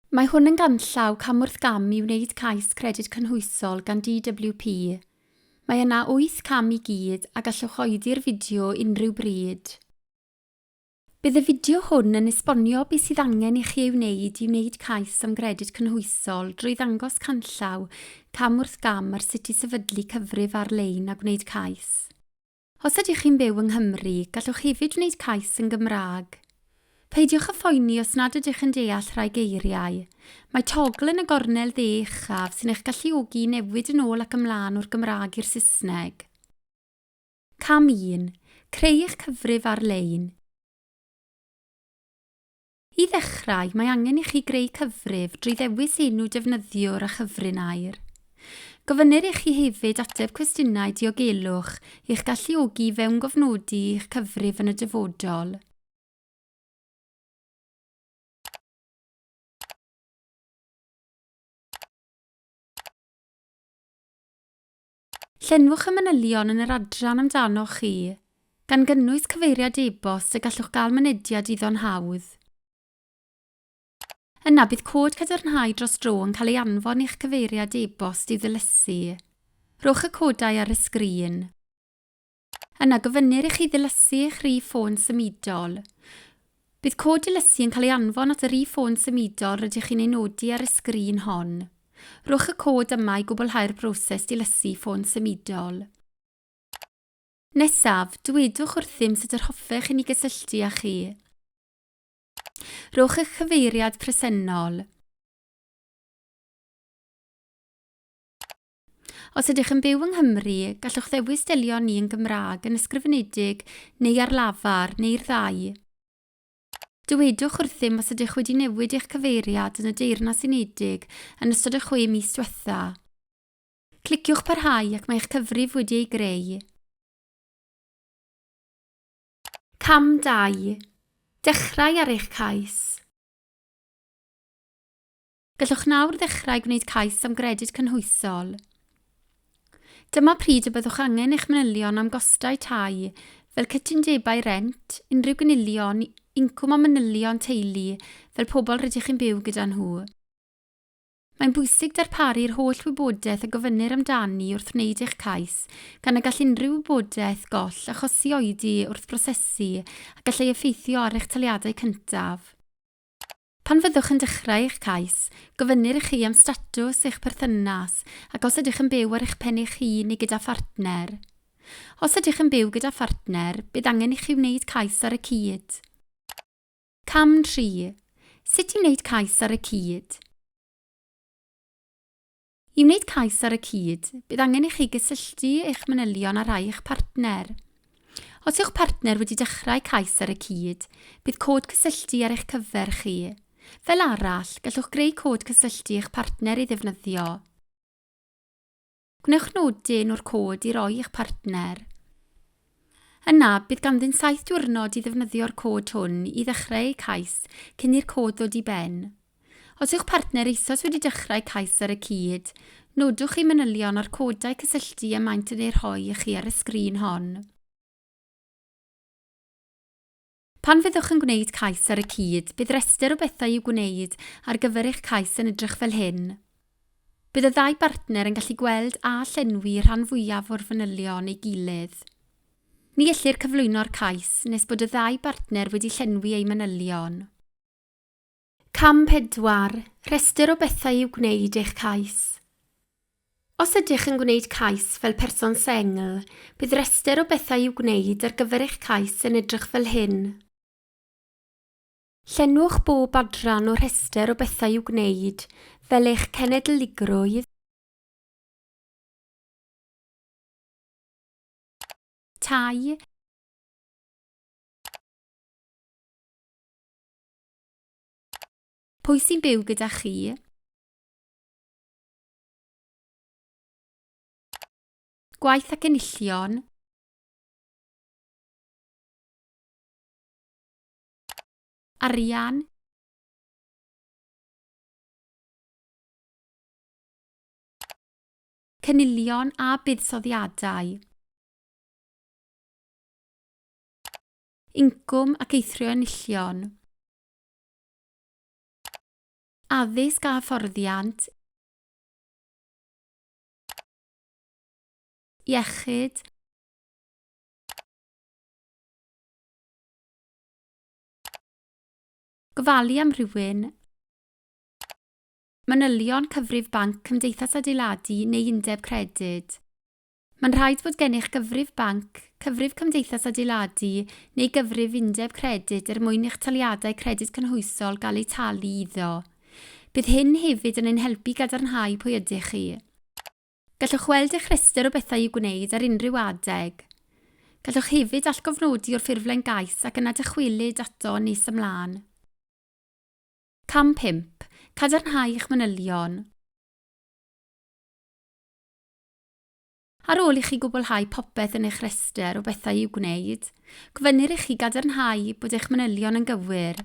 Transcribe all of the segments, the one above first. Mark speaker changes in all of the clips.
Speaker 1: Mae hwn yn ganllaw cam wrth gam i wneud cais Credyd Cynhwysol gan DWP. Mae yna wyth cam i gyd a gallwch oedi'r fideo unrhyw bryd. Bydd y fideo hwn yn esbonio beth sydd angen i chi ei wneud i wneud cais am Gredyd Cynhwysol drwy ddangos canllaw cam wrth gam ar sut i sefydlu cyfrif ar-lein a gwneud cais. Os ydych chi'n byw yng Nghymru, gallwch hefyd wneud cais yn Gymraeg. Peidiwch â phoeni os nad ydych yn deall rhai geiriau. Mae togl yn y gornel dde uchaf sy'n eich galluogi i newid yn ôl ac ymlaen o'r Gymraeg i'r Saesneg. Cam 1. Creu eich cyfrif ar-lein. I ddechrau, mae angen i chi greu cyfrif drwy ddewis enw defnyddiwr a chyfrin air. Gofynnir i chi hefyd ateb cwestiynau diogelwch i'ch galluogi i fewngofnodi i'ch cyfrif yn y dyfodol. Llenwch y manylion yn yr adran amdanoch chi, gan gynnwys cyfeiriad e-bost y gallwch gael mynediad iddo'n hawdd. Yna bydd cod cadarnhau dros dro yn cael ei anfon i'ch cyfeiriad e-bost i'w ddilysu. Rhowch y codau ar y sgrin. Yna gofynnir i chi ddilysu eich rhif ffôn symudol. Bydd cod dilysu yn cael ei anfon at y rhif ffôn symudol rydych chi'n ei nodi ar y sgrin hon. Rhowch y cod yma i gwblhau'r broses dilysu ffôn symudol. Nesaf, dywedwch wrthym sut yr hoffech i ni gysylltu â chi. Rhowch eich cyfeiriad presennol. Os ydych yn byw yng Nghymru, gallwch ddewis delio â ni yn Gymraeg, yn ysgrifenedig neu ar lafar, neu'r ddau. Dywedwch wrthym os ydych wedi newid eich cyfeiriad yn y Deyrnas Unedig yn ystod y chwe mis diwetha'. Cliciwch Parhau ac mae eich cyfrif wedi ei greu. Cam 2. Dechrau ar eich cais. Gallwch nawr ddechrau gwneud cais am Gredyd Cynhwysol. Dyma pryd y byddwch angen eich manylion am gostau tai, fel cytundebau rent, unrhyw gynilion, incwm a manylion teulu, fel pobl rydych chi'n byw gyda nhw. Mae'n bwysig darparu'r holl wybodaeth y gofynnir amdani wrth wneud eich cais, gan y gall unrhyw wybodaeth goll achosi oedi wrth brosesu a gallai effeithio ar eich taliadau cyntaf. Pan fyddwch yn dechrau eich cais, gofynnir i chi am statws eich perthynas ac os ydych yn byw ar eich pen eich hun neu gyda phartner. Os ydych yn byw gyda phartner, bydd angen i chi wneud cais ar y cyd. Cam 3. Sut i wneud cais ar y cyd. I wneud cais ar y cyd, bydd angen i chi gysylltu eich manylion â rhai eich partner. Os yw'ch partner wedi dechrau cais ar y cyd, bydd cod cysylltu ar eich cyfer chi. Fel arall, gallwch greu cod cysylltu eich partner ei ddefnyddio. Gwnewch nodyn o'r cod i roi i'ch partner. Yna, bydd ganddynt saith diwrnod i ddefnyddio'r cod hwn i ddechrau eu cais cyn i'r cod ddod i ben. Os yw'ch partner eisoes wedi dechrau cais ar y cyd, nodwch eu manylion a'r codau cysylltu y maent yn eu rhoi i chi ar y sgrin hon. Pan fyddwch yn gwneud cais ar y cyd, bydd rhestr o bethau i'w gwneud ar gyfer eich cais yn edrych fel hyn. Bydd y ddau bartner yn gallu gweld a llenwi y rhan fwyaf o'r fanylion ei gilydd. Ni ellir cyflwyno'r cais nes bod y ddau bartner wedi llenwi eu manylion. Cam pedwar, rhestr o bethau i'w gwneud eich cais. Os ydych yn gwneud cais fel person sengl, bydd rhestr o bethau i'w gwneud ar gyfer eich cais yn edrych fel hyn. Llenwch bob adran o rhestr o bethau i'w gwneud fel eich cenedligrwydd, tai, Pwy sy'n byw gyda chi? Gwaith ac enillion. Arian. Cynilion a buddsoddiadau. Incwm ac eithrio enillion. Addysg a hyfforddiant. Iechyd. Gofalu am rhywun. Manylion cyfrif banc, cymdeithas adeiladu neu undeb credyd. Mae'n rhaid fod gennych gyfrif banc, cyfrif cymdeithas adeiladu neu gyfrif undeb credyd er mwyn i'ch taliadau Credyd Cynhwysol gael eu talu iddo. Bydd hyn hefyd yn ein helpu i gadarnhau pwy ydych chi. Gallwch weld eich rhestr o bethau i'w gwneud ar unrhyw adeg. Gallwch hefyd allgofnodi o'r ffurflen gais ac yna dychwelyd ato nes ymlaen. Cam 5, Cadarnhau eich manylion. Ar ôl i chi gwblhau popeth yn eich rhestr o bethau i'w gwneud, gofynnir i chi gadarnhau bod eich manylion yn gywir.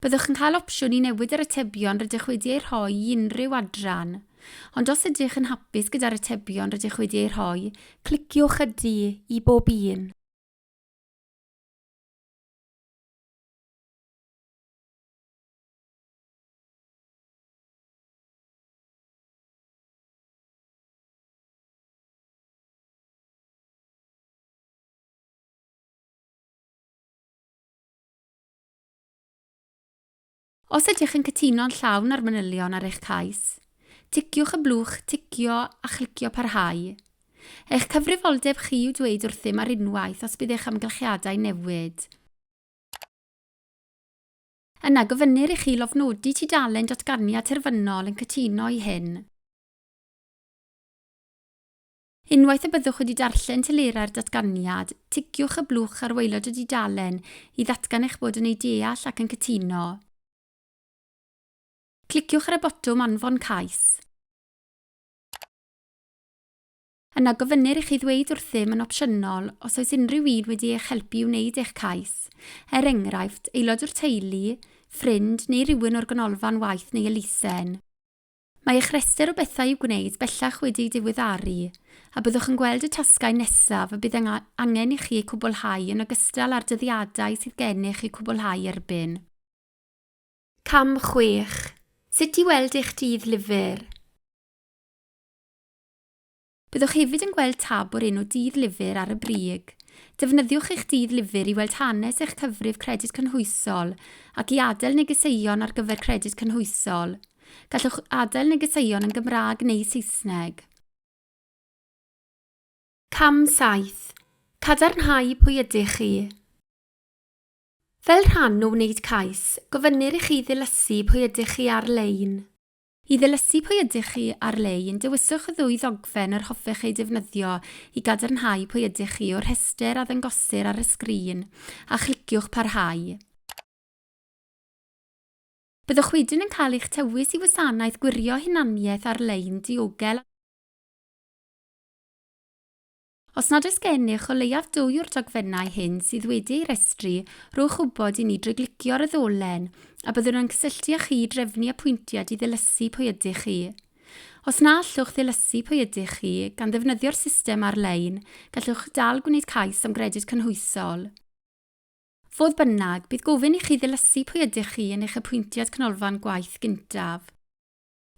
Speaker 1: Byddwch yn cael opsiwn i newid yr atebion rydych wedi eu rhoi i unrhyw adran, ond os ydych yn hapus gyda'r atebion rydych wedi eu rhoi, cliciwch Ydy i bob un. Os ydych yn cytuno'n llawn â'r manylion ar eich cais, ticiwch y blwch 'Ticio' a chlicio 'Parhau'. Eich cyfrifoldeb chi yw dweud wrthym ar unwaith os bydd eich amgylchiadau'n newid. Yna, gofynnir i chi lofnodi tudalen datganiad terfynol yn cytuno i hyn. Unwaith y byddwch wedi darllen telerau'r datganiad, tigiwch y blwch ar waelod y dudalen i ddatgan eich bod yn ei deall ac yn cytuno. Cliciwch ar y botwm anfon cais. Yna gofynnir i chi ddweud wrthym yn opsiynol os oes unrhyw un wedi eich helpu i wneud eich cais, er enghraifft, aelod o'r teulu, ffrind neu rywun o'r Ganolfan Waith neu elusen. Mae eich rhestr o bethau i'w gwneud bellach wedi ei diweddaru, a byddwch yn gweld y tasgau nesaf y bydd angen i chi eu cwblhau yn ogystal â'r dyddiadau sydd gennych eu cwblhau erbyn. Cam chwech, Sut i weld eich dydd lyfr. Byddwch hefyd yn gweld tab o'r enw Dydd Lyfr ar y brig. Defnyddiwch eich Dydd Lyfr i weld hanes eich cyfrif Credyd Cynhwysol ac i adael negeseuon ar gyfer Credyd Cynhwysol. Gallwch adael negeseuon yn Gymraeg neu Saesneg. Cam 7. Cadarnhau pwy ydych chi. Fel rhan o wneud cais, gofynnir i chi ddilysu pwy ydych chi ar-lein. I ddilysu pwy ydych chi ar-lein, dewiswch y ddwy ddogfen yr hoffech eu defnyddio i gadarnhau pwy ydych chi o'r rhestr a ddangosir ar y sgrin, a chliciwch Parhau. Byddwch wedyn yn cael eich tywys i wasanaeth gwirio hunaniaeth ar-lein diogel a Os nad oes gennych o leiaf dwy o'r dogfennau hyn sydd wedi eu rhestru, rhowch wybod i ni drwy glicio ar y ddolen a byddwn yn cysylltu â chi i drefnu apwyntiad i ddilysu pwy ydych chi. Os na allwch ddilysu pwy ydych chi gan ddefnyddio'r system ar-lein, gallwch dal gwneud cais am Gredyd Cynhwysol. Fodd bynnag, bydd gofyn i chi ddilysu pwy ydych chi yn eich apwyntiad Canolfan Gwaith gyntaf.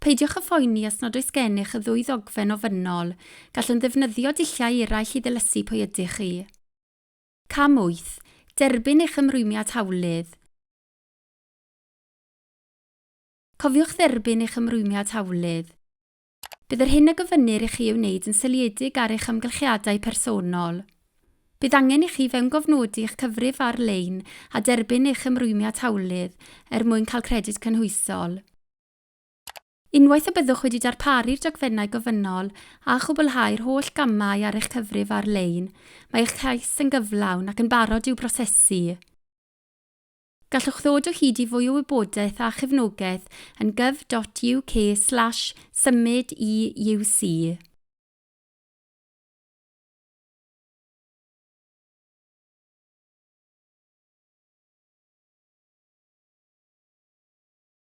Speaker 1: Peidiwch â phoeni os nad oes gennych y ddwy ddogfen ofynnol, gallwn ddefnyddio dulliau eraill i ddilysu pwy ydych chi. Cam 8, Derbyn eich ymrwymiad hawlydd. Cofiwch dderbyn eich ymrwymiad hawlydd. Bydd yr hyn a gofynnir i chi ei wneud yn seiliedig ar eich amgylchiadau personol. Bydd angen i chi fewngofnodi eich cyfrif ar-lein a derbyn eich ymrwymiad hawlydd er mwyn cael Credyd Cynhwysol. Unwaith y byddwch wedi darparu'r dogfennau gofynnol a chwblhau'r holl gamau ar eich cyfrif ar-lein, mae eich cais yn gyflawn ac yn barod i'w brosesu. Gallwch ddod o hyd i fwy o wybodaeth a chefnogaeth yn gov.uk slash symud i UC.